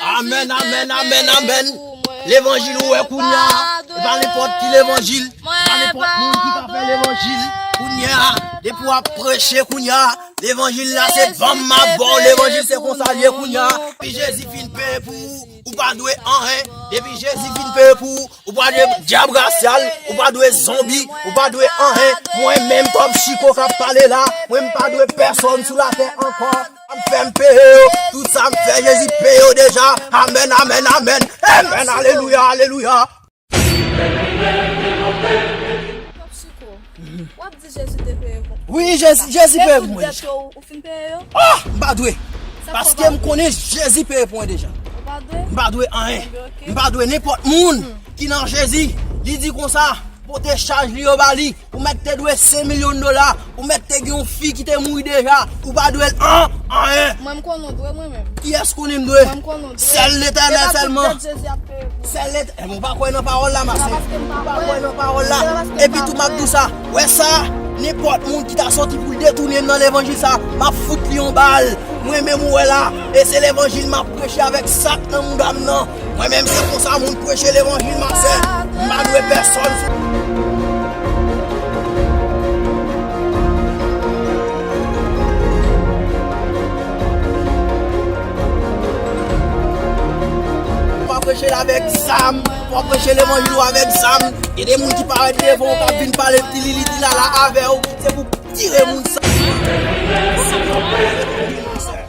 Amen, amen, amen, amen. Levanjil ou wè kounya. E pa nenpòt ki levanjil. E pa nenpòt moun ki ka fè levanjil. Kounya, depi w ap preche kounya. Levanjil la se banm m ap ba w. Levanjil se konsa l ye kounya. Depi Jezi fin peye pou ou, ou pa dwe anyen. Depi Jezi fin peye pou ou, ou pa dwe dyab rasyal. Ou pa dwe zonbi. Ou pa dwe anyen. Mwen menm kòm Chiko k ap pale la, mwen m pa dwe pèsòn sou latè ankò. Ap fèm peye yo tout sa m fè jezi peye yo deja amèn amèn amèn amen alelouya alelouya. Pòp siko, wap di Jezi te peye kont ou wi sa, e tout dèt yo ou fin peye yo? Oh! M pa dwe, paske m konnen Jezi peye pou mwen deja. Ou pa dwe? M pa dwe anyen. Ebyen ok. M pa dwe nenpòt moun ki nan Jezi. Li di konsa, pote chaj li yo ba li. Ou mèt te dwe 5 million dola, ou mèt te gen yon fi ki te mouri deja, ou pa dwe l an, anyen. Mwen m konnen w dwe mwen menm. Kiyès konnen m dwe? Mwen m konnen w dwe. Sèl Letènèl sèlman. E pa tout tèt Jezi ap peye pou ou. Sèl Letè, eh mwen pa kwè nan pawòl la ma sè. Se pa paske m pa kwè. Mwen pa kwè nan pawòl la. Se pa paske m pa kwè. Epi tou m ap di w sa, wè sa, nenpòt moun ki ta sòti pou l detounen m nan levanjil sa, m ap fout li yon bal. Mwen menm ou wè la, e se levanjil m ap preche avèk sak nan mouda m nan. Mwen menm se konsa moun preche levanjil map fè, m pa dwe pèsòn sou. Wap preche l avèk zam, wap preche levanjil ou avèk zam, gen de moun ki parèt devan ou kap vin pale tilili tilala avè ou, se pou tire moun sa.